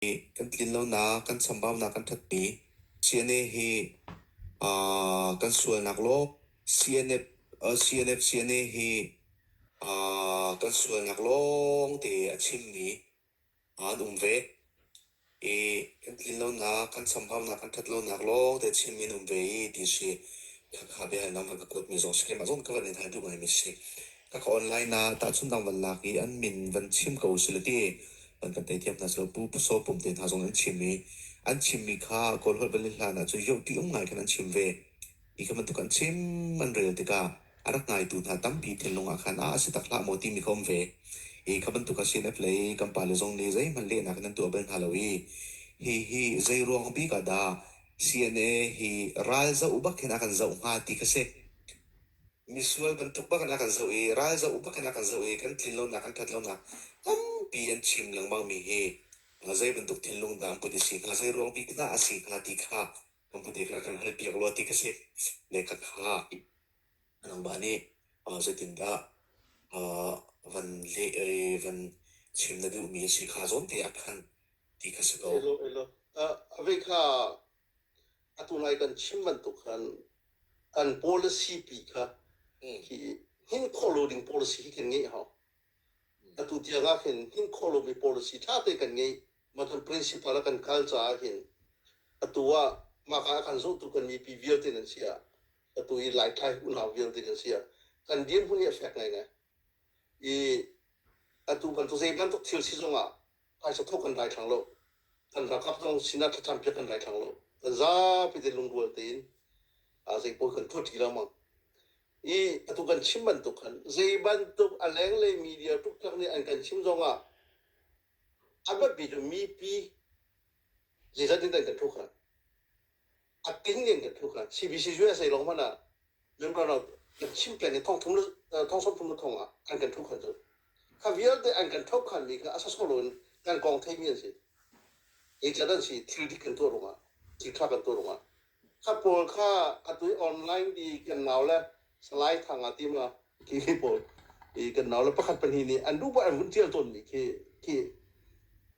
nih kan tlinlonak, kan chambaunak kan thatmi CNA hi uh, kan sualnak law CNF, uh, CNF CNA hi uh, kan sualnak lawng te a chimmi an um ve i kan tlinlonak, kan chambaunak, kan thatlonak lawng te chimmi an um ve i ti si khakha bia nam han ka kuatmi zong si keimah zong ka van in hai duh ngai mi si Ka ka online na tahchunh dang van lak i an min van chim ko sila ti van kan tei thiam hna silo pu so pum te hna zong an chim i an chimmi kha kawl holh vale hlan ah cu yoh ti um ngai khan an chim ve i kha bantuk an chim an rel tikah a rak ngaitu hna tampi thinlung ah khan a si tak hlah maw timi kha um ve i kha bantuk a CNF lei kan pa le zong nih zeihmanh lehnak in an tuah bal hna lo i hi hi zei ruang bik ah dah CNA hi ralzoh bak khin a kan zoh hnga ti kha si Misual bantuk bak in a kan zoh i, ralzoh bak in a kan zoh i, kan tlinlonak, kan ṭhatlonak tampi an chim lengmang mi hi zei bantuk thinlung dah an put i si hnga, zei ruang bik dah a si hnga ti kha kan put i kan kan hal piak rua ti kha si. Lekha kha nangmah nih zeitindah van leh i van chim na duhmi a si kha zawn tein a phan ti kha si ko. Elo, elo. A vei kha atu lai kan chim bantuk khan kan policy pi kha hi hnin khawh lo ding policy hi kan ngeih hau atu tiang ah hin hnin khawh lomi policy tha te kan ngei mah kan principle a kan kal caah hin atu ah mah ka kan zohtu kan mipi vialte nan si ah atu i laitlai unau vialte nan si ah kan dirhmun hi a fek ngai ngai i atu bantuk zei bantuk thil si zong ah Phaisa thawk kan dai thlang lo. Kan ralkap zong sinah thlacam piak kan dai thlang lo. Kan zapi te lungrual tein zeipawl kan tuah ṭi lengmang. I atu kan chim bantuk khan zei bantuk a lenglei media tluktlak nih an kan chim zongah a biapi cu mipi Ziza din dai phu khna. Atin din phu khna. CBC US ai long mana member rau chim plan thong thum thong som thum thong ah an kan thu khan zo. Kha vialte an kan thop khan mi kha asa solo in kan kong thei mi an si. Ei chadan si thil dik kan tu runga. Ti tha kan tu runga. Kha pawl kha atui online di kan nau le salai thanga ti ma ki ki pawl i kan nau le pakhat pan hi ni an du ba an hun tial ton mi khi khi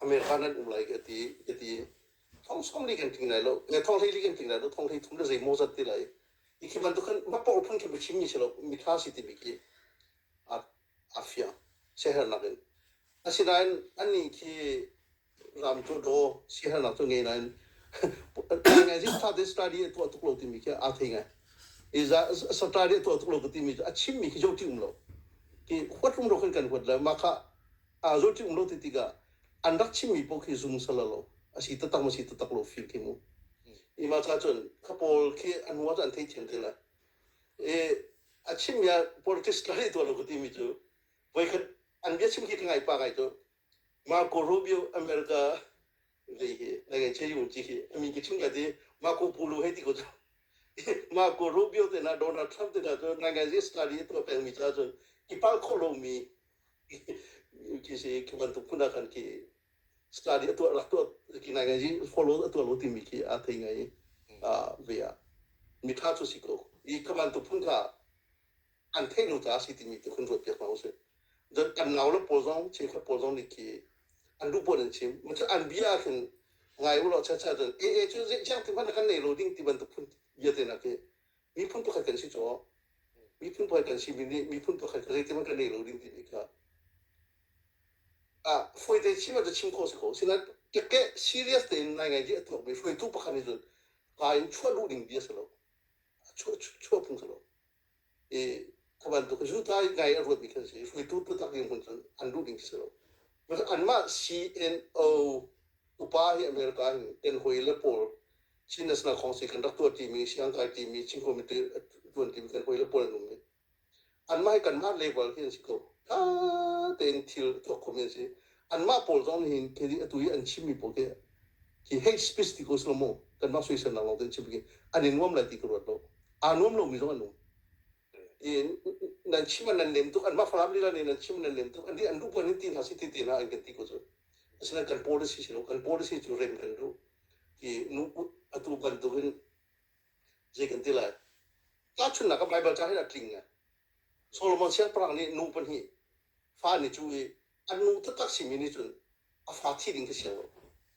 America nan um lai ka ti ka ti thong som li kan ting lai lo nge thong hlei li kan ting lai lo thong hlei thum le zei mo zat ti lai i khi ban tu khan ma por phun khin bichim mi se lo mi tha si ti mi ki a a fia shehar nak in asinain ani khi ram tu do shehar nak tu nge na in ngai zin tha te study to tuk lo ti mi ki a thei ngai i za study to tuk lo ti mi a chim mi khi jo ti um lo ki huat rum ro khan kan huat la ma kha aa zohṭi um lo ti tikah an rak chimmi paoh khi zungsal a lo a si taktak maw si taktak lo feel khi mu. I mah ca cun kha pawl khi an hnuah cun an thei thiam te lai. I a chimmi ah politics ka hei tuah lo ka timi cu voikhat an bia chim khi ka ngai pa ngai cu Marco Rubio America dei hi na ngai che yun chi hi ami ki chin ka ti Marco Polo hei ti ko cu Marco Rubio te na Donald Trump te na cu ngai ngai si study tuah pengmi ca cun i pal khawh lomi Kisi kan bantuk phun ah kan ki study a tuah tuah ki nai ngai follow a tuah lo timi ki a thei ngai a ve a mitha chu si ko i ka bantuk phun ka an thei nu ta si timi te kun ruat piak ma usih kan ngau la pawl zong chim khat pawl zong nih ki an rup an chim mun an bia khin ngai ulo cha cha dan e e chu ze jang ti man kan nei lo ding ti bantuk phun bia te na ke Miphun pakhat kan si caw miphun pakhat kan simi nih miphun pakhat kha zeitihmanh kan ei lo ding timi kha ah fawite chim ah chim khawh si ko sinain keke serious tein nai ngai dih a tuakmi hruaitu pakhat nih cun kaa in chuah luh ding bia si lo chuah chuah phung si lo i a bantuk zuntai ngai a ruatmi kan si hruaitu tutak ding hmun cun an luh ding si lo anmah CNO upa hi America hin kan hawi le pawl Chin National Council kan rak tuan timi, Siangkai timi, Chin Committee tuan timi kan hoi le pual num i anmah kanmah level hi an si ko. Tha tein thil tuak khomi an si. Anmah pawl zong nih hin khi atu i an chimmi pawl khi hi hei speech ti ko silo mu kanmah soisel nak lawng te an chim khi an in nuam lai ti ka ruat lo aa nuam lomi zong an um nan chim nan len tuk an mah falam lila nih nan chim nan len tuk an an rukun in ti hna si ti ti hna an kan ti ko cu asina kan policy si lo kan policy cu rem kan du ki nu atu kan tu in je kan ti lai ta chun nak bible cha hi na tling nge solomon siang perang nih nu pahnih fa ni chu i a nu taktak simi nih cun a fa thi ding kha sia lo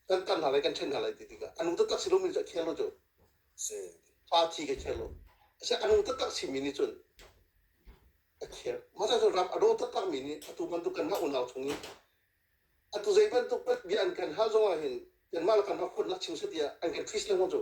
kan tan hna lai kan ṭhen hna lai ti tikah a nu taktak si lomi cu a kher lo cu fa thi kha kher lo ashe a nu taktak simi nih cun a kher masa cun ram a daw taktakmi nih atu bantuk kan hlah unau chung i atu zei bantuk bia an kan hal zong ah hin kanmah le kanmah khutnak chim satiah an kan tris lengmang cu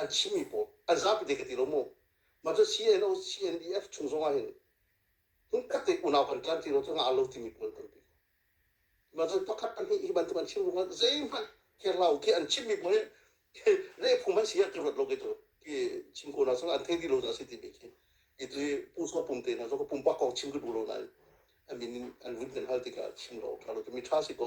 an chimmi pawl a zapi te ka ti lo mu mah cu CNO CNDF chung zong ah hin hmunkhat te unau kan tlan ti lo cu ngah lo timi pawl tampi mah cu pakhat pahnih hi bantuk an chim ruang ah zeihmanh kerla ke an chimmi pawl hin lehphung man si ah ka ruat lo ke cu ki chim ko na sal an thei ti lo asi ti mi khi i tu pu so pum te na zo ko pum pa kong chim du lo na an min an rut men hal tikah chim lo ka lo tu mi tha si ko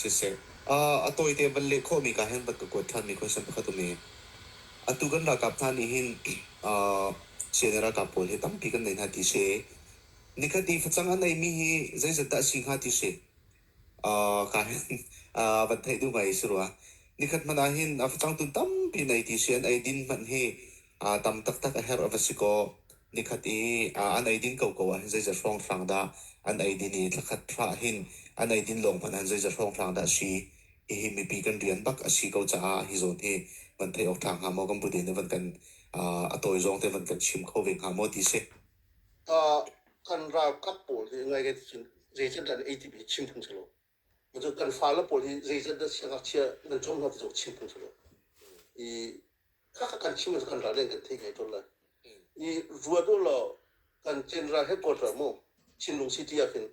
Siseh, a tawite van leh khawhmi kaa hen bak ka kuat ṭhanmi question pakhat um i, atu kan ralkap hna nih hin sianginn le ralkap pawl hi tampi kan nei hna ti si i, nikhat i facang a neimi hi zeizat dah a si hnga ti si kaa hen van theih duh ngai si rua. Nikhat hmanh ah hin facang tun tampi nei ti si an eidin hmanh hi tam taktak a herh a va si kaw, Nikhat i ah an eidin koko ahhin zeiza hrawnghrang dah an eidin i thlakhat hra ahhin an eidin lawng hmanh ahhin zeiza hrawnghrang dah a si. Hihi mipi kan rian bak a si ko caah hi zawn hi van theih awk ṭha hnga maw kan buden i van kan ah, a tawi zong te van kan chim kho ve hnga maw ti si. Ah, kan ralkap pawl hi ngai kan sin zei can ran ei ti hi chim phung selaw. kan fale pawl hi zeizat dah siangngakchia nan cawng hna ti cu chim phung silo i kaka kan chim kan ral in kan theih ngai tawn lai i ruat u law kan general headquarter mu chinlung city ah khin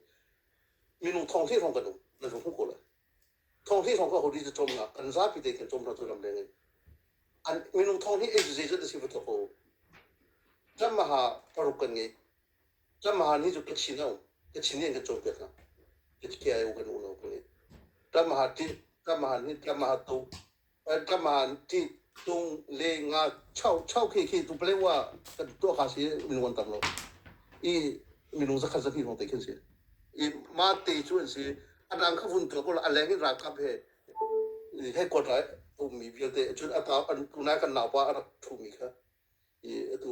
minung thong thli hrawng kan um nan hung hung ko lai thong thli hrawng ka hori te chom nga kan zapi te kan chom na tu lam leng in an minung thong thli ei zeizat da si va to ko kan maha paruk kan ngei Tlamar nih cu ka chin hau ka chin nih ka cawipiak hna Kiki ai u kan unau kan i tlamar ti tlamar ni tlamar to tlamar ti tung le nga chau chau khi khi tu pale wa ka tuah kha si mingon tam lo i minung zakhat zakhi hong tai khin si i ma te chu an si adang kha vun ka ko la aleng in ralkap he headquarter ummi vialte cun ata an kunai kan naupa a rak thumi kha i atu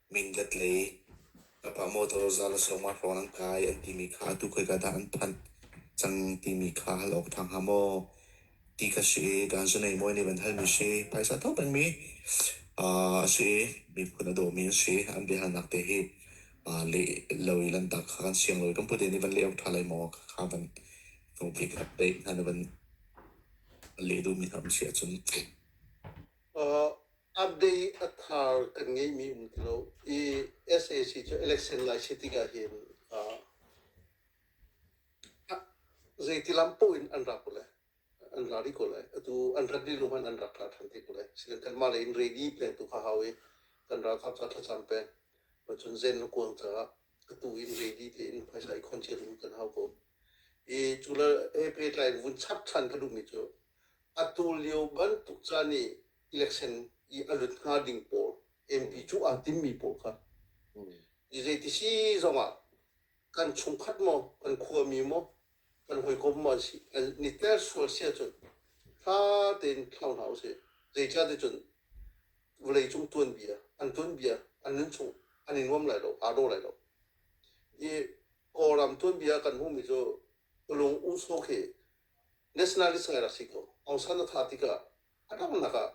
Mindat lei Papa motor zal a sawm ah hrawn an kai an timi kha atu khoika dah an phanh cang timi kha hal awk ṭha hnga maw? Ti kha si i dan zanei mawi nih van halmi si phaisa to pengmi a si i miphun a dawmi an si an biahalnak te hi leh lo i lanhtak kha kan siang lo i kan pute nih van leh awk ṭha lai maw kha van nupi kha pei hna nih van leh duhmi hna an si ahcun. a day a thar kan ngeihmi um ti lo i sac cu election lai si tikah hin zeitilam poh in an ra ko lai an ra rih ko lai atu an rat rih lungman an rak ra than te ko lai sikan kanmah lei in ready peng tu kha hau i kan ralkap ca thlacam peng macun zen le kuang caah atu in ready tein phaisa i khonchial in kan hau ko i cula he pehtlai vun chap than ka duhmi cu atu lio bantuk ca nih election i a lut hnga ding pawl MP cu aa timmi pawl kha i zeiti si zongah kan chungkhat maw kan khuami maw kan hawikom maw an si niter sual si ahcun tha tein thlau hna usih zeicah te cun vawlei cung tuanbia an tuanbia an nun chung an i nuam lai lo aa do lai lo i kawlram tuanbia kan hmuhmi cu lung uso khi nationalist ngai rak si ko aung san a tha tikah A donghnak ah,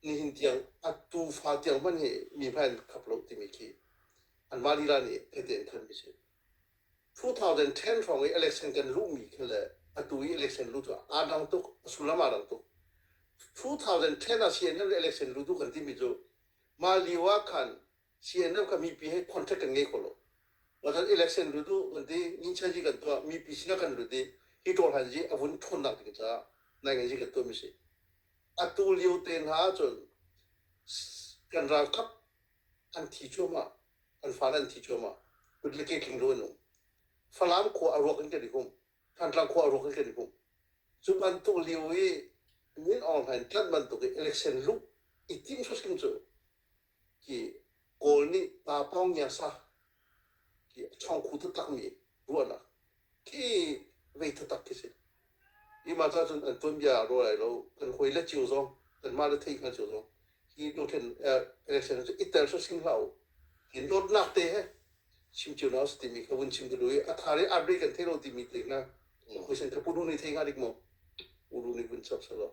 nihin tiang a tufa tiang hmanh hi mi hmai an khap lo timi khi anmah lila nih tehte in thanmi a si. 2010 hrawng i election kan luhmi khi le atu i election lu cu aa dang tuk, a sullam aa dang tuk. 2010 ah CNN le election lutu kan timi cu mah lio ah khan CNN ka mipi he contact kan ngei kho lo. Kan election lut u kan ti, ninchan hi kan tuah, mipi sinah kan lut i hi ṭawlhal hi a vun ṭhawnnak ding caah naingan hi kan tuahmi a si. Atu lio te hna ahcun kan ralkap an thi cuahmah, kan fale an thi cuahmah, kut le ke tling lo an um. Falam khua a ruak in kan i hum, Thantlang khua a ruak in kan i hum. Cu bantuk lio i min online tlanh bantuk i election luh i tim hrim cu hi Kawl nih pa Pawngyasa hi a chawngkhu taktakmi ruahnak khi vei taktak khi si. Hi mah ca cun an tuanbia a rual lai lo, kan hawi le cio zong, kanmah le theih hngal cio zong, hi dothlen election cu i tel sawh sing hlah u. Hi dawtnak te he chim cio na u timi kha vun chim dulu i a thar i arre kan thei lo timi te hna, hawi sen kha pu Runi thei hnga dik maw? Pu Runi vun chap selaw.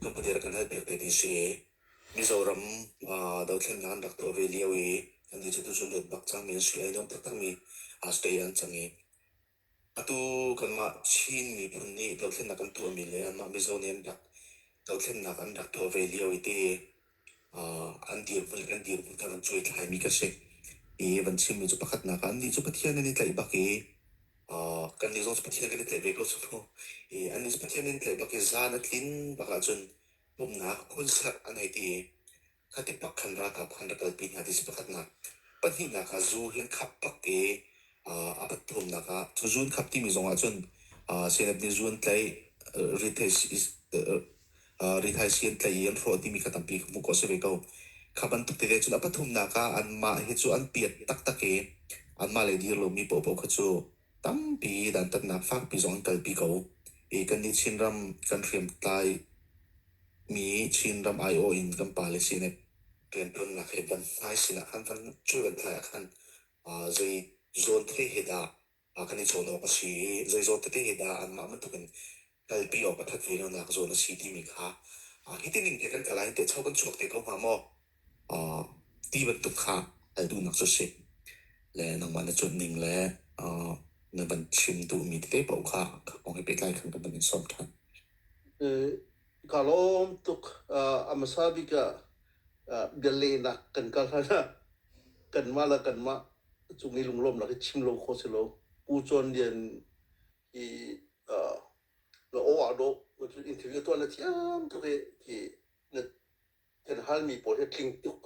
Hnukdel kan hal piak te ti si. Mizoram dothlennak an rak tuah ve lio i kan ti cu tu cun let bak cangmi an si i nuam taktakmi stay an cang i atu kanmah Chin miphun nih dothlennak kan tuahmi le anmah Mizo nih an rak dothlennak an rak tuah ve lio i ti. an dirhmun le an dirhmun kha kan cuaitlaimi kan si. Hi van chimmi cu pakhatnak ah annih cu Pathian an i tlaih bak i kannih zong cu Pathian kan i tlaih ve ko cu mu. I annih cu Pathian an i tlaih bak i zan a tlin bak ahcun pumhnak khunsak an hei ti i khati pak khan ralkap kha an rak kalpi hna ti si pakhatnak. Pahnihnak ah zu hi an khap bak i a umnak ah cu zuun khap timi zong ahcun Senate nih zuun tlaih rithaisi an tlaih i an hrawh timi kha tampi hmuh khawh a si ve ko. Kha bantuk tete cun a pathumnak ah anmah hi cu an piat taktak i anmah le dir lomi paohpaoh kha cu tampi dantatnak fakpi zong an kalpi ko. I kannih Chinram kan hriamtlai mi Chinram aiawh in kan pale Senate riantuannak hi van hmai sinah khan kan culvenhlai ah khan Zei zawt tete he dah kan i cawn awk a si i zei zawt tete he dah anmah bantukin kalpi awk a that ve lonak zawn a si timi kha hitin in te kan kal ah hin tehcho kan chuak te ko hnga maw? Uh, ti bantuk kha al duhnak cu si. Le nangmah na cuanh ning le uh, na van chim duhmi tete paoh kha ka kong he pehtlai khan ka van in sawm ṭhan. Eh, ka lawm tuk. Uh, a hmasa bik ah uh, bia lehnak kan kal hlan ah kanmah la kanmah cung i lunglawm lak i chim lo kho si lo pu chuan lian i uh, na o a do interview to na thiam to ke ki na kan hal mi pawl he tling tuk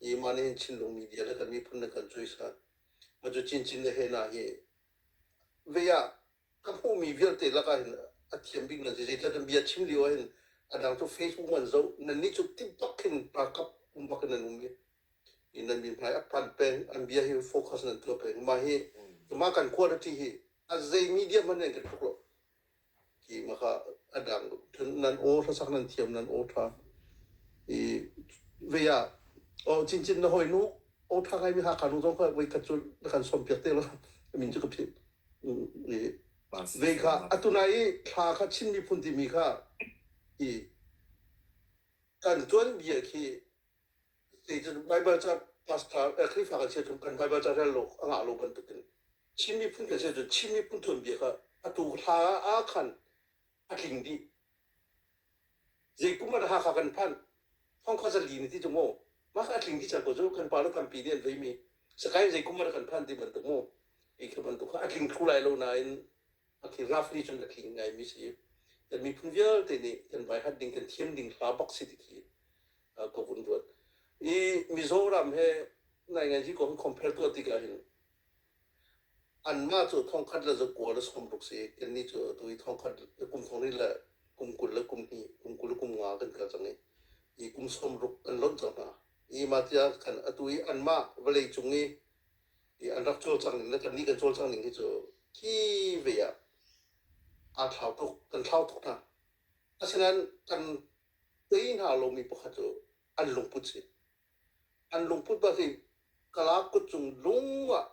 i ma ne chin lung media la kan mi phun na kan chui sa ma chu chin chin le he na hi ve ya ka hmuhmi vialte lakah hin a thiam bikmi an si zeitluk in bia chim lio ahhin a dang cu Facebook an zoh nannih cu ti bak in ralkap um bak in nan um i nan mi hmai a panh peng an bia hi focus nan tuah peng mah hi mah kan quality hi a zei media hmanh nih kan hruk lo ki mah kha a dang nan aw hlasak nan thiam nan aw tha i ve ya o chin chin na hoi nu aw tha ngai mi ha kanu zong kha voi khat cu na kan som piak te lo min chu ka phim Zei kha atu nai i thla kha Chin miphun timi kha i kan tuanbia khi zeitin Bible ca pastor eh, Khrifa kan sia kan Bible ca rel lo anga lo bantukin Chin miphun kan sia cun Chin miphun tuanbia kha atu thla ah khan a tling dih. Zeikum ah dah Hakha kan phan? Hongkha zali ni ti tu mu. Mah kha a tling dih cang ko cu. Kan pa le kan pi nih an vei mi, Sakain zeikum ah dah kan phan ti bantuk mu. Hi thil bantuk kha a tling thlu lai lo nain a thil ngafri cun a tling ngai mi si. Kan miphun vialte nih kan vaihat ding, kan thiam ding hla bak si ti khi uh, ka vun ruat. I Mizoram he nai ngai hi ko hin compare tuah tik ah hin anmah cu thongkhat le za kua le sawm ruk si kannih cu atu i thongkhat kum thongri le kum kul le kum hnih kum kul le kum nga kan kal cang i i kum sawm ruk an lonh cang hna i mah tiah khan atu i anmah vawlei cung i i an rak cawl cang ning le kannih kan cawl cang ning hi cu hi ve ah aa thlau tuk kan thlau tuk hna asinain kan tei hna lomi pakhat cu an lungput si an lungput pahnih kala kut cung lung ah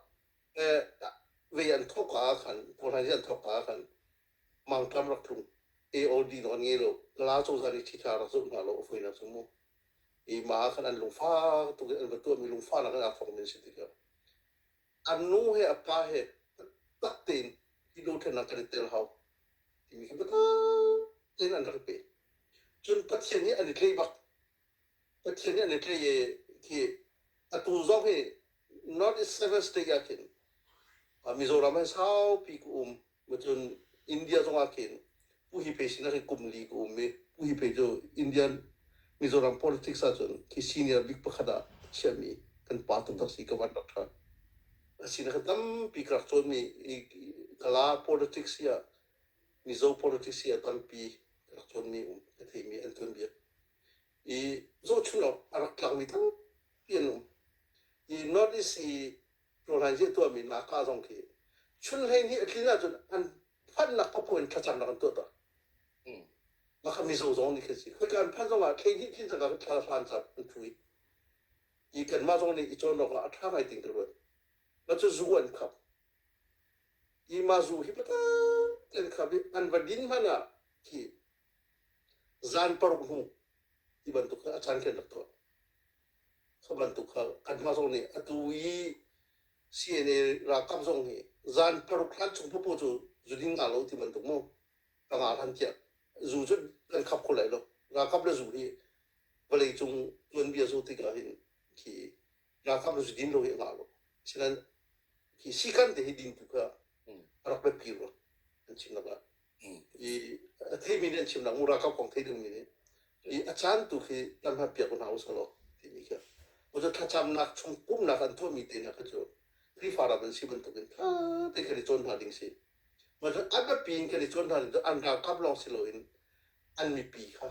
eh, vei an thok ah khan kohlan an thok ah khan mangkam rak tlung AOD no an ngei lo kala co zan i thitha rak zuk hna lo foi na sumu i ma khan an lungfa tu an batu mi lungfa na kan afong min si tika an nu he apa he tak tein kilo then na kan tel hau timi ki bata tein an rak pe cun pathian hi an i tlei bak Pathian nih an i tleih i khi atu zong hi North Eastern State ah khin uh, Mizoram hi saupi ku um cun India zong ah khin pu hi pei sin ah kum li ku um i pu hi pei cu Indian Mizoram politics ah cun khi senior bik pakhat ah chiahmi kan pa tuk a si ka van rak ṭha a sinak hi tampi ka rak cawnmi i kala politics hi ah Mizo politics a tampi rak cawnmi um a theimi an cawn bik. I zohchun awk a rak tlakmi tampi an um. I North East i rawlhainzi a tuahmi Naka zong khi chun hleihnih a tlin ahcun an phannak papu in thlacam rak an tuah ta. Maka Mizo zong nih khin si. Khoika an phan zongah hleihnih tlin cangka thlahran car an thu i. I kanmah zong nih i cawn awkah a ṭha ngai ding ka ruat. Na cu zu an khap. Imazu hi patang tein kham i an va din hmanh ah hi zan paruk hnu ti bantuk kha a caan khin rak tuah. Kha bantuk kha kan hma zong nih atu i CNA ralkap zong hi zan paruk hlan chung popo cu zu ding nga lo ti bantuk mu ka nga hlan tiah zu cu kan khap kho lai lo. Ralkap le zu hi vawlei cung tuanbia zo tikah hin khi ralkap nu din ro hi a ngah lo selen hi sikan te hi din tu kha rak bet pi rot an chim lak la i thei mi nih an chim lak mu ralkap kong thei ding mi nih i a chan tu khi tam ha piak na us lo ti ni kha mo to thlacham nak chung kum nak an thua mi te na kha chu Krifa ram an si ban tuk in tha te kha ni chon hna ding si mo to an ba pin kha ni chon hna ding to an ralkap long si lo in an mi pi kha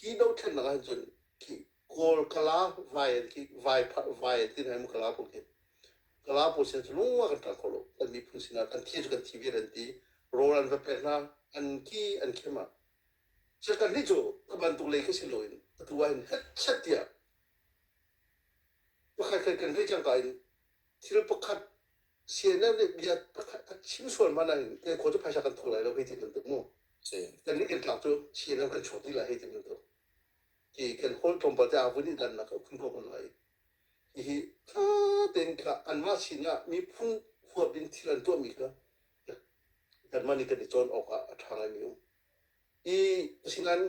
hi do thlen na han chun ki kawl kala vai ki vai vai tin hem kala pu ki kala pu sen lu kan kal ko lo kan mi phun sina kan thi kan thi vi ran ti rolan va pe na an ki an ke ma se kan ni chu ka ban tu le ke sin lo in ka tu in het chet tia pakhat kan kan ri chang ka in thil pakhat CNN nih bia pakhat a chim sual mana in te ko chu phaisa kan thok lai lo hei ti kan tu mu kan ni kan tlang chu CNN kan chot ni la hei ti kan tu i kan hawi tlawmpal te avun i dannak kan ko kan lai hihi tha tein kha anmah sin ah miphun huap in thil an tuahmi kha kanmah nih kan i cawn awk ah a ṭha ngaimi um i asinain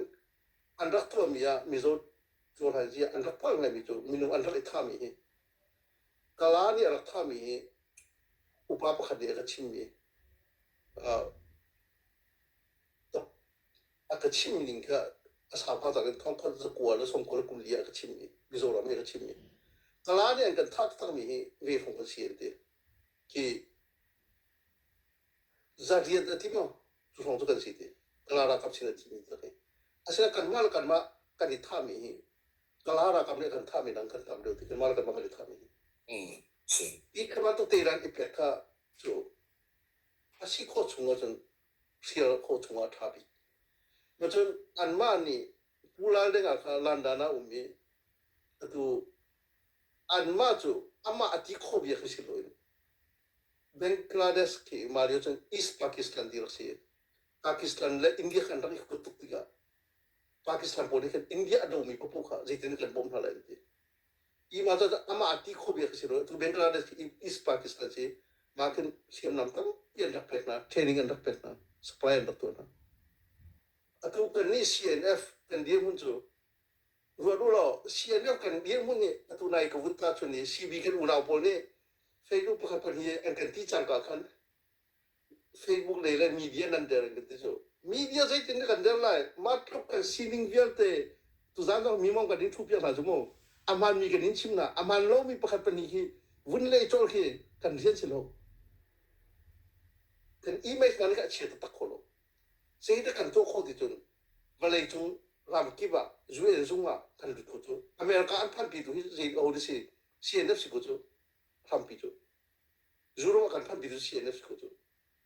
an rak tuahmi ah mizaw cohlan zia an rak palh ngaimi cu minung an rak i thami hi kala nih a rak thami hi upa pakhat nih a ka chimmi uh, a ka chimh ning kha a sau hna tak in khawngkhawt zakua le songkua le kuli ah ka chimh i Mizoram i ka chimh i kala nih an kan thah takmi hi vehrung kan si an ti ki za rian a ti maw cu hrawng cu kan si ti kala rakap sin a ti mi ta kai asina kanmah le kanmah kan i thahmi hi kala rakap nih kan thahmi dang kan tam deuh ti kanmah le kanmah kan i thahmi hi hi kha bantuk teran i pek kha cu a si khawh chung ahcun hrial khawh chungah ṭha bik. Macun anmah nih pulal ding ah khan landan ah um i atu anmah cu amah a ti khawh bia khi si loin Bangladesh khi mah lio cun East Pakistan dirhak si i Pakistan le India khan rak i huat tuk tikah Pakistan pawl nih khan India a domi paoh kha zeitin kan bawmh hna lai an ti. Imah cu amah ti kho biak a si lo. Tu Bangladesh hi East Pakistan si. Mah khin hriamnam tampi an rak pek hna. Training an rak pek hna. Supply an rak tuah hna. Atu kan nih CNF kan dirhmun cu ruat u law CNF kan dirhmun nih atu nai ka vun ta chun i CB kan unau pawl nih feilu pakhat pahnih an kan ti cangka khan Facebook lei le media nan der in ka ti cu media zeitin kan der lai mah tluk kan sining vialte tuzan zong mi mong kan in thu piak hna cu mu aman mi kan in chim na aman lo mi pakhat pahnih hi vun le chol khi kan rian si lo kan image ngan ka chia tak kho lo sei te kan to kho ti cun vale cung ramkip ah UN zung ah kan lut kho cu America an phan pi tu hi zein o de si CNF si ko cu Trump pi cu Zu ruang kan phanh bik cu CNF cu cu.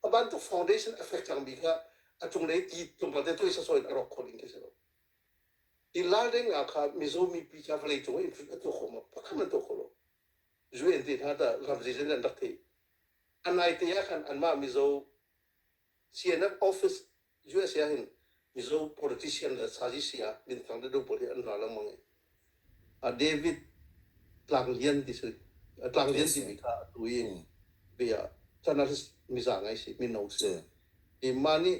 A bantuk foundation a fek cangmi kha a cunglei ti tlungpal te tuai sasaw in a rawk khawh ding khi si lo. Hi lal deng nga kha Mizo mipi ca vawlei cung in a tuah khawh ma pakhat man tuah khawh lo. UN te hna tah ram zei zan an rak theih. A naite ah khan anmah Mizo CNN office usa ah hin Mizo politician le sazici ah minthang deuhdeuh pawl hi an ra lengmang i a David Tlang Lian ti cu Tlang Lian timi kha atu i bia ah journalist miza ngai si mino si i mah nih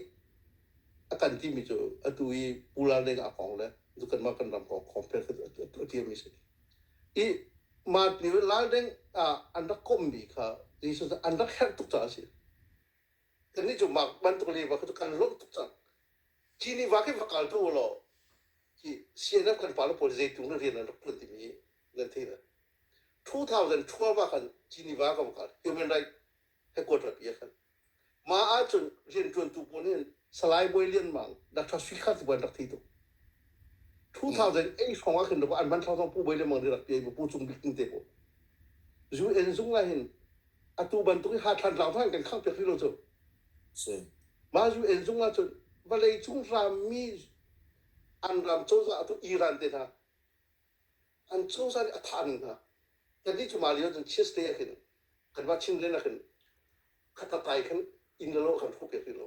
a kan timi cu atu i Pu Lal Deng a kong le kanmah kan ram kong compare a tiami si i mah ni Lal Deng ah an rak kommi kha Jesus an rak herh tuk caah a si Kannih cu mah bantuk liva kha cu kan lawmh tuk cang. Hi liva khi va kal tu u law, hi CNF kan pale pawl zei tung le rian an rak ṭuan timi nan theih lai. 2000 12 ah khan Geneva kan va kal, Human Rights Headquarter pi ah khan. Mah ahcun rianṭuantu pawl nih Salai Bawi Lian Mang, Dr. Sui Kha sibawi an rak thi tuk. 2008 hrawng ah khin an hman thlau cang Pu Bawi Lian Mang nih rak ṭial i Pu Cung Bik Tin te pawl. UN zung ah hin atu bantuk i ha thlan hlau hna kan khangh piak rih lo cu mah UN zung ah cun vawlei cung rammi an ram cozah atu Iran te hna an cozah nih a thah hna kannih cu mah lio cun Tuesday ah khin kan mah Chin leng ah khin khatatai khan in lo kan hruk piak rih lo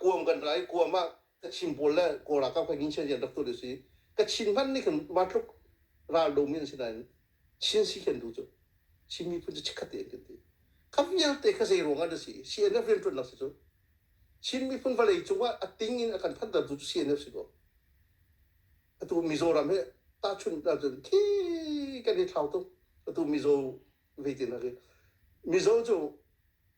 kuam kan ra i kuam ah ka chim pawl le kawl ah kam kai ngin chian rak tu a si ka chin hman nih khan ma tluk ral do mi an si nain chin si khen du cu chin mi phun cu chikkhat te an kan ti ka vialte ka zei ruang ah da si CNF rian tuan nak si cu Chin miphun vawlei cungah a ting in a kan phanter tu cu CNF si ko atu Mizoram he ta chun da cun ki kan he thlau tung atu Mizo ve tin ha Mizo cu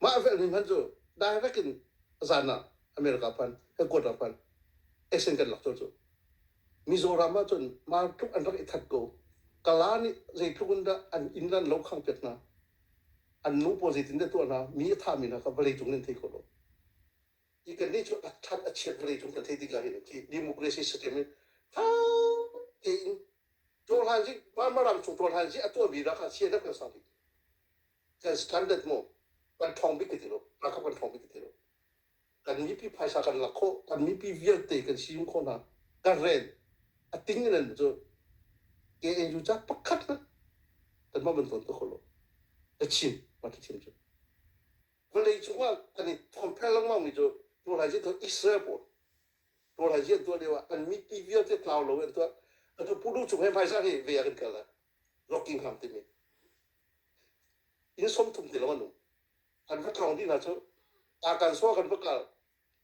Mah hrel hnim han cu direct in zan ah America phan, headquarter phan, exen kan lak cio cu. Mizoram ah cun mar tluk an rak i that ko. Kala nih zeitluk in dah an inn an lo khang piak hna. An nu pawl zeitindah tuah hna, mi a thami hna kha vawlei cung nan thei kho lo. Hi kannih cu than a chiat vawlei cung kan thei ding ah hin a ti. Democracy system hi tha tein ṭawlhaanzi, Marmaram chung ṭawlhaanzi a tuahmi rak ah CNF kan sang ding. standard mu kan thong bik ti lo na kan thong bik ti lo kan mipi phaisa kan lak kho kan mipi vialte kan siim kho na kan ren ating nan cu KNU cha pakhat na kan ma ban ton to kholo ta chin ma ta chin chu vale chunga kan compare lang ma mi chu tu lai ji to Israel po tu lai ji tu lewa kan mipi vialte tlaw lo en to atu pudu chung he phaisa he ve kan kala Rockingham timi inn sawm thum ti lawng an um. An va tlawng dih hna cu Arkan sua kan va kal.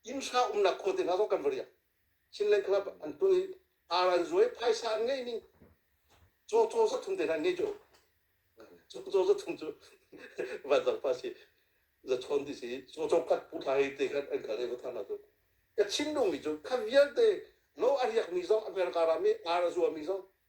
Inn hra umnak khua te hna zong kan va riak. Chinland Club an tu i aran zuai phaisa an ngei ning. Caw caw zat thum te hna ngei cu. Caw caw zat thum cu vanzang pa si. Za chawn ti si. Caw caw kat pu thla hi te khat an kal i va thang hna cu. Ka Chin lungmi cu kha vialte lo a riakmi zong America ram i ar a zuami zong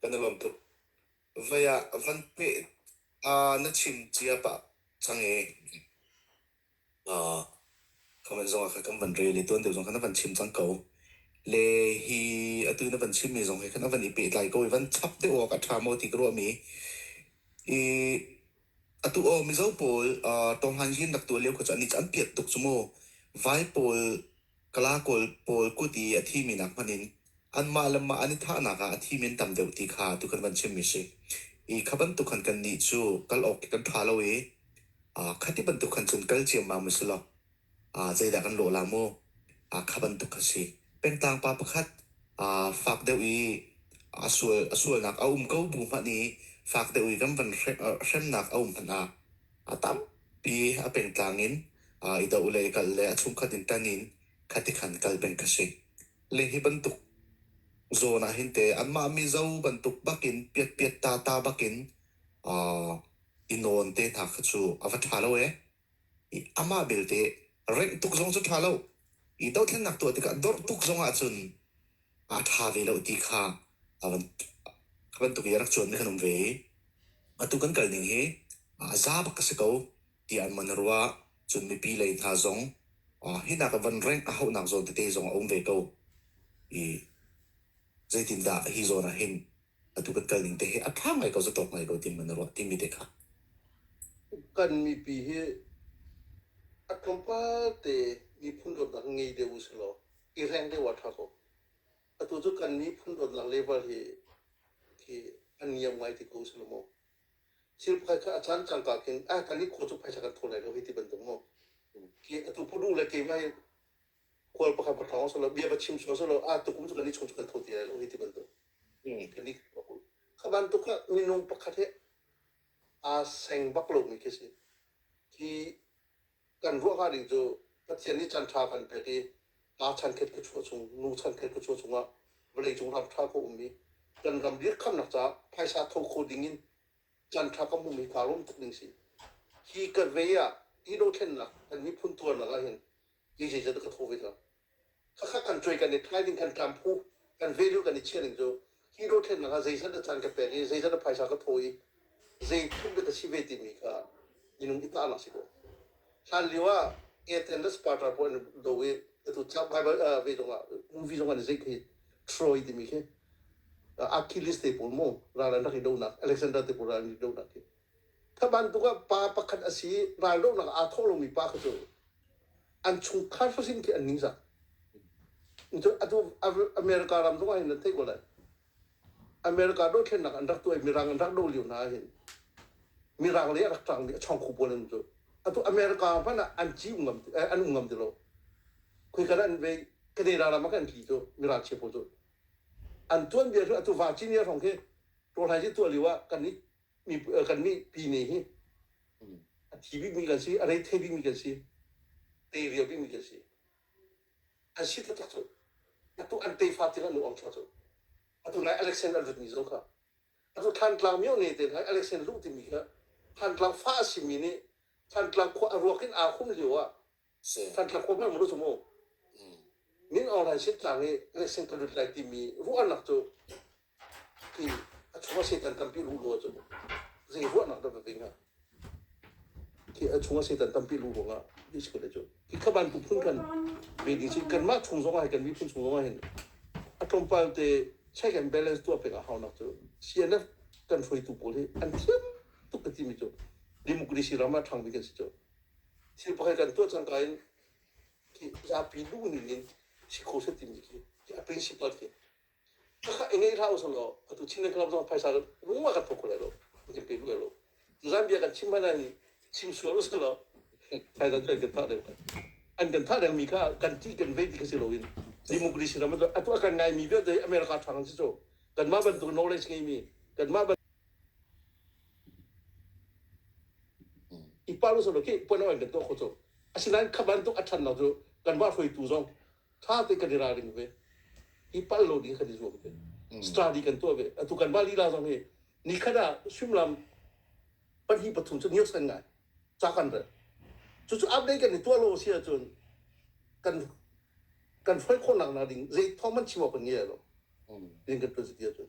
Kan i lawm tuk. Vai ah van hmeh ah na chim cia pah cang i uh, comment zongah kha kan van rel i tuan deuh zong kha na van chim cang ko. Le hi atu na van chimmi zong hi khan a van i pehtlai ko i van chap deuh awk a ṭha maw ti ka ruahmi i Atu aw Mizo pawl uh, tonghlan hin rak tuah lio kha cu ani cu an piat tuk cu maw. Vai pawl, kala kawl pawl kut i a thimi nak hmanh in anmah le mah an i thahnak ah a thimi an tam deuh ti kha atu kan van chimmi si. I kha bantuk khan kannih cu kal awk kan ṭha lo i uh, khati bantuk khan cun kal ciammam a si lo. ah zeidah kan lawh lai maw? Ah kha bantuk kha si. Pengtang pa pakhat aa fak deuh i a sual a sualnak a um ko bu hmanh i fak deuh i kan van hrem aa hremnak a um hmanh ah a tampi a pengtlang in aa i doh le kal le a chungkhat in tan in khati khan kal peng kha si. Le hi bantuk zawn ah hin te anmah mizo bantuk bakin piatpiatta ta bakin aa i nawn te hna kha cu a va ṭha lo ee. amah belte rengh tuk zong cu ṭha lo i dothlennak tuah tikah dorh tuk zongah cun aa ṭha ve lo ti kha a van a bantuk i a rak cuanmi kan um ve i atu kan kal ning hi aa za bak a si ko tiah an man a ruah cun mipi lei hna zong ah, hi nak van rengh a hauhnak zawn tete zong a um ve ko i zeitindah hi zawn ah hin atu kan kal ning te hi a ṭha ngai ko, zatawk ngai ko ti ma na ruah timi te kha. kan mipi hi a tlawmpal te miphun dawtnak ngei deuh usilaw i reng deuh a ṭha ko atu cu kan miphun dawtnak level hi khi an niam ngai ti ko usilaw maw thil pakhat kha a caan cangka kin ah kan i khaw cu phaisa kan thawl lai lo hi ti bantuk maw ki atu phu duh le keimah hi Khual pakhat ka thawng solo bia va chim sual solo a tu um solo ni chung chuan tho ti ai lo hi ti bantuk. Kan ni kha bantuk kha minung pakhat he aa seng bak lo mi khi si. Khi kan ruah hnga ding cu Pathian nih chan tha kan pek i aa chan khet ku chua chung nu chan khet ku chua chungah vawlei cung ram tha ko um i kan ram dirh khamnak ca phaisa tho kho ding in chan tha kan hmumi ka rom tuk ding si hi ka ve ah i dothlennak kan miphun tuarnak ah hin Ti zei zat ka thaw ve hlah. Khakha kan cuai kan i thai ding kan tlam phu kan value kan i chia ding cu hi dothlennak ah zeizat a caan ka pek i zeizat a phaisa ka thaw i zei thum dek a si ve timi kha minung i tahnak si ko hlan lio ah Ed Anders Parter puan do i atu tlak Bible uh, ve zong ah movie zong an i zeik hi Troy timi khi uh, Achilles te pawl mu ral an rak i donak Alexander te pawl ral an i donak hi Kha bantuk ah pa pakhat a si i raldohnak ah aa thawh lomi pa kha cu an chungkhar hrosin khi an ningzak. Atu America ram zongah hin an theih ko lai. America dothlennak an rak tuah i Mirang an rak doh lio hna ah hin Mirang lei ah rak ṭangmi a chawngkhu pawl an um cu. Atu America hmanh ah an ci um ngam an um ngam ti lo. Khuikal an vei Canada ram ah khan an tli cu miralchia pawl cu. An tuanbia cu atu Virginia hrawng khi rawlhai cu tuah lio ah kan i kan mipi nih hi a thi bikmi kan si a rei the bikmi kan si te rio bikmi kan si an si taktak cu atu an tefa tiang an lu awngchuak cu atu nai alexander lutmi zong kha atu thantlang mio ne te nai alexander luh timi kha thantlang fa a simi nih thantlang khua a ruak in aa hum lio ah Santha Kawtna Vuru Mu, Min Aung Hlaing sitlang i Lexing Palut Lai timi ruahnak cu hi a chungah Satan tampi luh ruang cu zei ruahnak dah na ding ah hi a chungah Satan tampi luh ruang ah ni sikul le cu hi kha bantuk phun kan ve ding si kan mah chung zong ah kan miphun chung zong ah hin a tlawmpal te check and balance tuah pek a haunak cu CNF kan hruaitu pawl hi an thiam tuk ka timi cu democracy ram ah ṭhang bik an si cu Thil pakhat kan tuah cangka in zapi luhning in si kho set timi khi a principle khi kakha i ngeih hlah usang law atu Chin club zong phaisa lungma kan thok lai lo kan pe lu lo zan bia kan chim hmana ni chim sual usang law phaisa kan kan thah deng an kan thah deng mi kha kan ti kan vei ti ka si lo in democracy ram atu kan ngai mi vialte America thang si so kan mah bantuk knowledge ngei mi kan mah i paulus ro khi puan awai kan tuah kho cu asinain kha bantuk a ṭhan lo cu kan mah hruaitu zong ṭha te kan i ralring ve hi pal lo ding kan i zuam ve study kan tuah ve atu kan mah lila zong hi ni khat ah suimlam pahnih pathum cu niok san ngai ca kan rel cucu update kan i tuah lo si ahcun kan kan hruai khawh nak ding zei thawng man chim awk kan ngei lo ding kan tuan si ti ahcun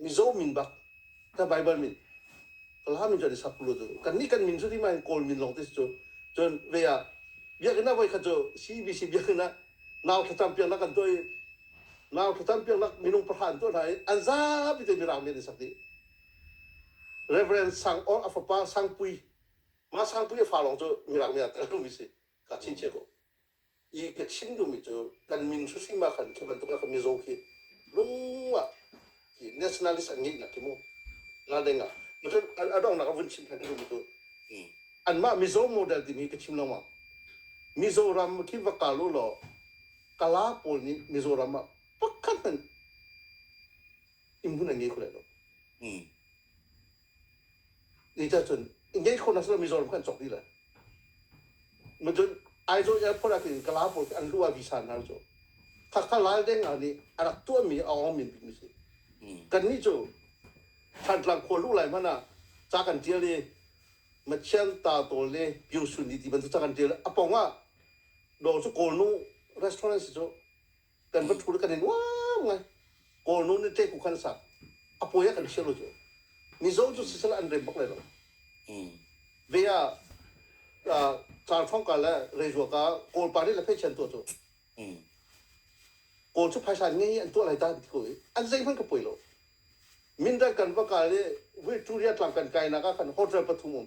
Mizo min bak ka Bible min Kalaha min cu ani Sakulo cu kan nih kan min cu tima in Kawl min lawng te cu cun ve ah biakinn ah voi khat cu CBC biakinn ah nau thlacam piaknak kan tuah i nau thlacam piaknak minung pahra an tuah hna i an zapi te mirang men an sak dih Reverend Sang Or a fapa Sangpui mah Sangpui a fa lawng cu mirang men ah tel mi si ka chin cia ko i ka chim duhmi cu kan min hruhring ma khan khi bantuk ka mizaw khi lungah hi nationalist an ngeih nak hi mu la deng ah a dong nak a vun chim kan duhmi cu anmah mizaw model timi ka chim lawmang mizoram khi va kal u law kala pawl nih mizoram ah pakhat hmanh in hun an ngei kho lai lo Ni ta cun engage khawhnak si lo mi zawn kan cawk dih le. Cun Aizawl airport ah khin Kala pawl an luah visa hna cu khakha lal deng hna nih a rak tuah mi a awng min bikmi si. Kan nih cu Thantlang khua luh lai hmanh ah ca kan tial i Mathian ta tawl le Pyu Sun ni ti bantuk ca kan tial. A pong ah do cu Kawlnu restaurant si cu kan va thul kan i nuam ngai kawl nu nih te ku khan sa a poi ah kan chia lo cu mizo cu sisal an rem bak lai lo ve ah car thong ka le reizua ka kawl pa nih le phei chen tuah cu kawl cu phaisa ngei an tuah lai ta ti ko i an zei hmanh ka poi lo mindat kan va kal i vuituriya tlang kan kainak ah khan hotel pathum um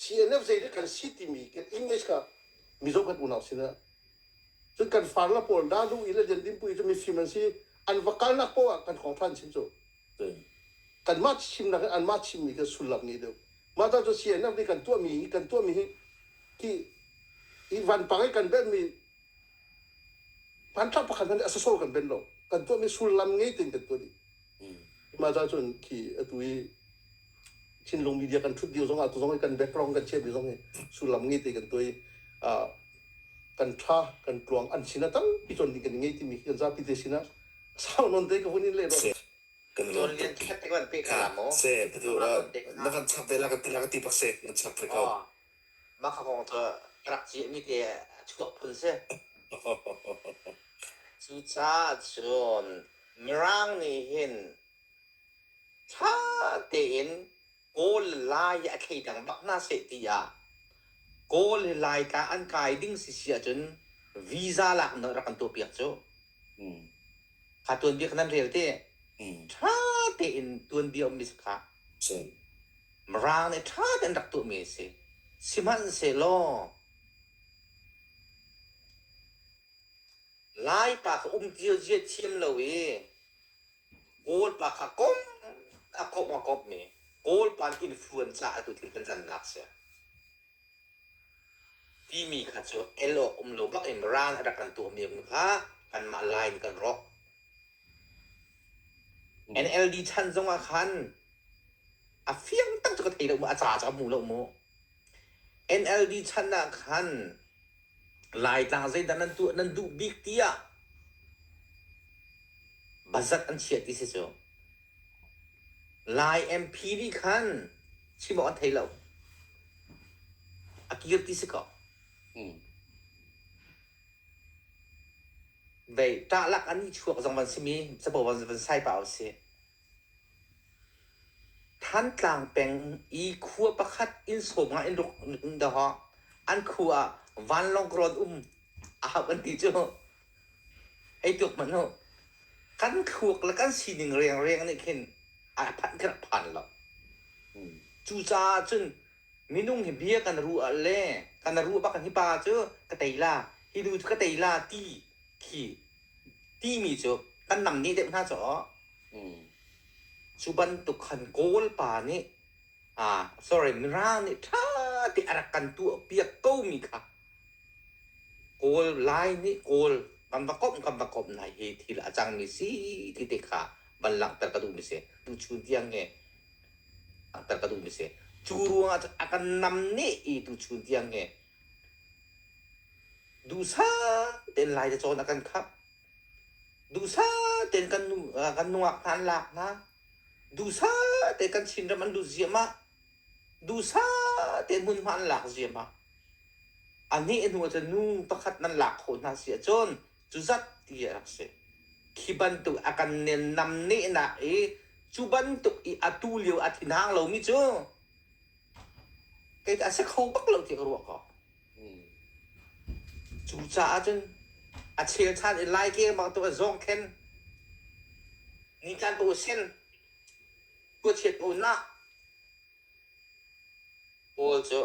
CNF zeidah kan si timi kan English kha mi zoh kan unau sinah cun kan farnak pawl da hnu in le jandin pui cu mifim an si an va kalnak paoh ah kan khawng ṭhan chin cu kan mah chimnak an mah chimmi kan sullam ngei deuh mah ta cu CNF nih kan tuahmi hi kan tuahmi hi ki i vanpang i kan benhmi hmanthlak pakhat hmanh nih a sosol kan ben lo kan tuahmi sullam ngei tein kan tuah dih Mah cun khi atu i Chinlung media kan thut dio zong ah tu zong hi kan background kan chep zong hi sullam nge te kan toi kan tha kan tluang an sin a tal pi chon ding kan ngei timi kan zapi te sin a sau non te ka hun in le ro kan lo lian khat te kan pe ka la mo se tu na van chap de la ka ti la ka ti pak se na chap fe ko Mah kha kong cu ka rak ciahmi te a chuak phun si. Cucaahcun Mirang nih hin ṭha tein Kawl le Lai i a thleidang bak hna seh ti ah Kawl le Laitla an kai ding si si ahcun visa lak in rak kan tuahpiak cu. Mm. Kha tuanbia kha nan rel ti? Mm. Ṭha tein tuanbia a um mi si kha. Si. Mirang nih ṭha tein rak tuahmi a si. Sihmanhsehlaw Lai pa kha umṭio ziathiam lo i Kawl pa kha kom a komh a komhmi Kawl pa nih influenza a tutu ṭanṭannak a si timi kha cu el awk um lo bak in Mirang a rak kan tuahmi um kha kanmah Lai nih kan rawk. NLD chan zongah khan A fiang tak cu ka thei lo maw, a ca cu a hmu lo maw? NLD chan ah khan Laitlang zeidah nan tuah nan duh bik tiah bazat an chiah ti si cu. Lai MP nih khan chim awk an thei lo. A kir ti si ko. Mm. Vei ṭah lak an i chuak zong van simi capo van, van sai pah usih. Thantlang peng i khua pakhat inn sawm ah in ruk in doh hawh. An khu ah vanlawng rawn um a hauh an ti cu. Hei tuk hmanh u. Kan thluak le kan sining riangriang nih khin a phanh kan phan lo. Cucaah cun minung hi bia kan ruah ah le kan ruah bak hi pa cu ka tei la, hi nu cu ka tei la ti khi timi cu kan nam ni deuh hna caah cu bantuk khan Kawl pa nih ah sorry Mirang nih ṭha te a rak kan tuahpiak ko mi kha Kawl Lai nih Kawl kan va komh kan va komh nai hi thil a cangmi si ti te kha van langhter ka duhmi si tuchun tiang nge langhter ka duhmi si cu ruangah a kan nam ne i tuchun tiang nge Duhsah tein lai le cawn a kan khap. Duhsah tein kan nu, ah kan nungak hna an lak hna. Duhsah tein kan chinram an lut ziahmah. Duhsah tein hmunhma an lak ziahmah. A neh hnu ahcun nu pakhat nan lak kho hna si ahcun cu zat ti a rak si. Khi bantuk a kan nennam nehnak i cu bantuk i atu lio a thin hang lomi cu Kei tah a si kho bak lo tiah ka ruah ko. Cu caah cun a chel ṭhan i lai keng bang tuk a zawng khen ni tlan tu sen tuachiat tu na pawl cu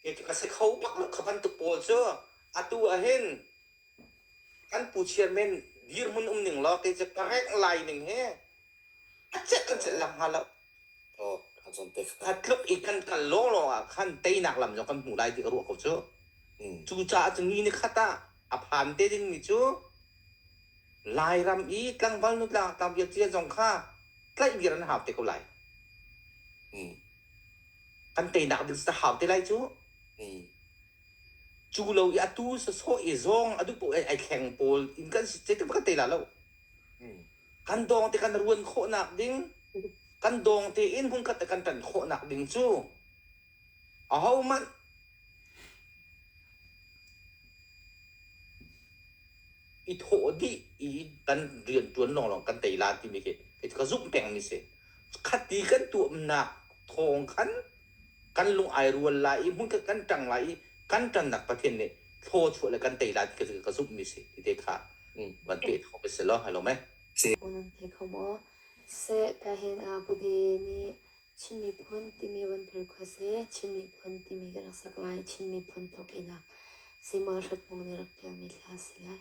kei cu ka si kho bak lo kha bantuk pawl cu atu ahhin kan pu chairman dirhmun um ning law kei cu ka rengh lai ning hi a celh in celh lo hnga lo. A tluk i kan kal lawlaw ah khan teinak lam cu kan hmuh lai ti ka ruah ko cu. Mm. Cucaah cu ni ni khat ah a phan te dingmi cu Lairam i tlangval nutlaak tabia cia zong kha tlaih vir an hau te ko lai. Mm. Kan teinak ding sa hau te lai cu. Mm. Cu lo i atu sasawh i zong a duh paoh ai, ai thleng pawl in kan si te ka tei la lo. Mm. kan dawng te kan ruan khawhnak ding kan dawng tein hmunkhat ah kan tan khawhnak ding cu aho hmanh i thawh dih i kan rian tuan lawng lawng kan tei lan timi khi ka zumh peng mi si khati kan tuahnak thawng khan kan lung ai rual lai i hmun kan ṭang lai i kan ṭannak Pathian nih thlaw chuah le kan tei lai ka ka zumhmi si ti te kha van pe kho mi si lo halo me nan thei kho maw seh ta hin a bubi nih Chin miphun timi van phir kho se Chin miphun timi ka rak sak lai Chin miphun thok ina sima hrat mong ne rak tial mi thla si lai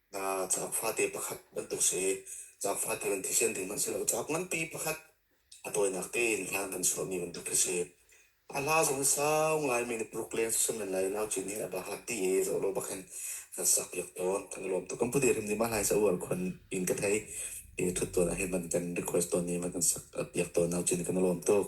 Ca fate pakhat bantuk si. Ca fate kan thisen ding hmanh si lo. Ca nganpi pakhat a tawinak tein hla kan chuahmi bantuk khi si. A hla zong sau ngaimi na puruk leng si men lai nau cin hi a bakak ti e zo lo bakin kan sak piak tawn. Kan lawm tuk. Kan pude rim nih mahlai sa uar khon in ka thei. E thut tawn ahhin man kan request tawn i man kan sak piak tawn nau cin kan lawm tuk.